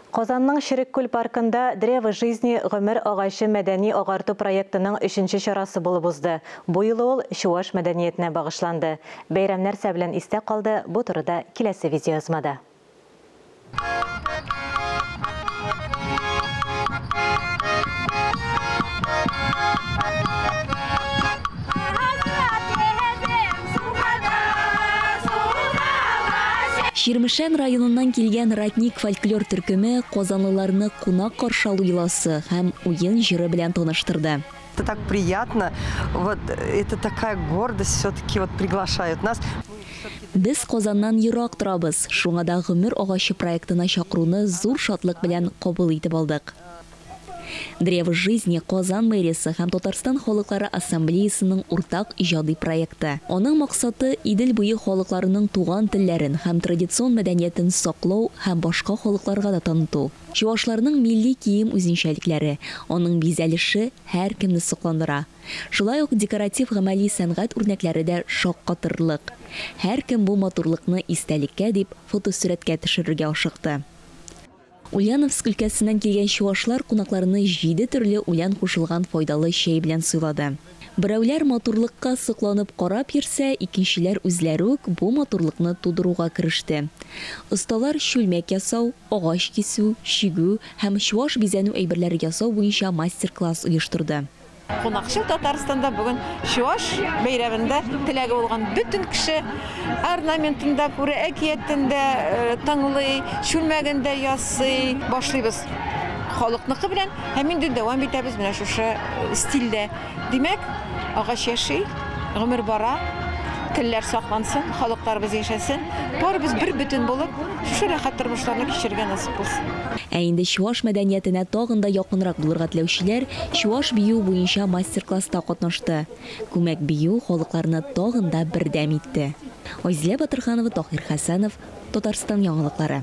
Казанның Черек күл паркында Древо жизни, Гомер агачы мәдәни-агарту проектының өченче чарасы булып узды. Бу юлы ул чуаш мәдәниятенә багышланды. Бәйрәм нәрсә белән истә калды, бу турыда киләсе видеоязмада. Чирмешән районыннан килгән Ратник фольклор төркеме казанлыларны кунак каршы алу йоласы һәм уен җыры белән таныштырды. Это так приятно, вот это такая гордость, все-таки вот приглашают нас. Без Казаннан ерак торабыз, шуңа да Гомер агачы проектына чакыруны зур шатлык белән кабул итеп алдык. Древо жизни, Казан мэриясе һәм Татарстан Халыклары Ассамблеясының уртак иҗади проекты. Аның максаты, Идел буе халыкларының туган телләрен һәм традицион мәдәниятен саклау һәм башка халыкларга да таныту. Чуашларның милли кием үзенчәлекләре, аның бизәлеше һәркемне сокландыра. Шулай ук декоратив-гамәли сәнгать үрнәкләре дә шаккатырлык. Һәркем бу матурлыкны истәлеккә дип фотосурәткә төшерергә ашыкты. Ульяновск өлкәсеннән килгән чуашлар кунакларны җиде төрле үлән кушылган файдалы чәй белән сыйлады. Берәүләр матурлыкка сокланып карап йөрсә, икенчеләр үзләре үк бу матурлыкны тудыруга кереште. Осталар чүлмәк ясау, агач кисү, чигү һәм чуаш бизәнү әйберләре ясау буенча мастер-класс оештырды. Кунакчыл Татарстанда бүген Чуаш бәйрәмендә теләге булган бөтен кеше орнаментын да күрә, әкиятен дә тыңлый, чүлмәген дә ясый. Башлыйбыз халыкныкы белән һәм инде дәвам итәбез менә шушы стильдә. Димәк, агач яши, гомер бара, телләр саклансын, халыкларыбыз яшәсен, барыбыз бербөтен булып, шушы рәхәт тормышларны кичерергә насыйп булсын. Ә инде чуаш мәдәниятенә тагын да якынрак булырга теләүчеләр чуаш бию буенча мастер-класста катнашты. Күмәк бию халыкларны тагын да бердәм итте. Айзилә Батырханова, Таһир Хәсәнов, Татарстан яңалыклары.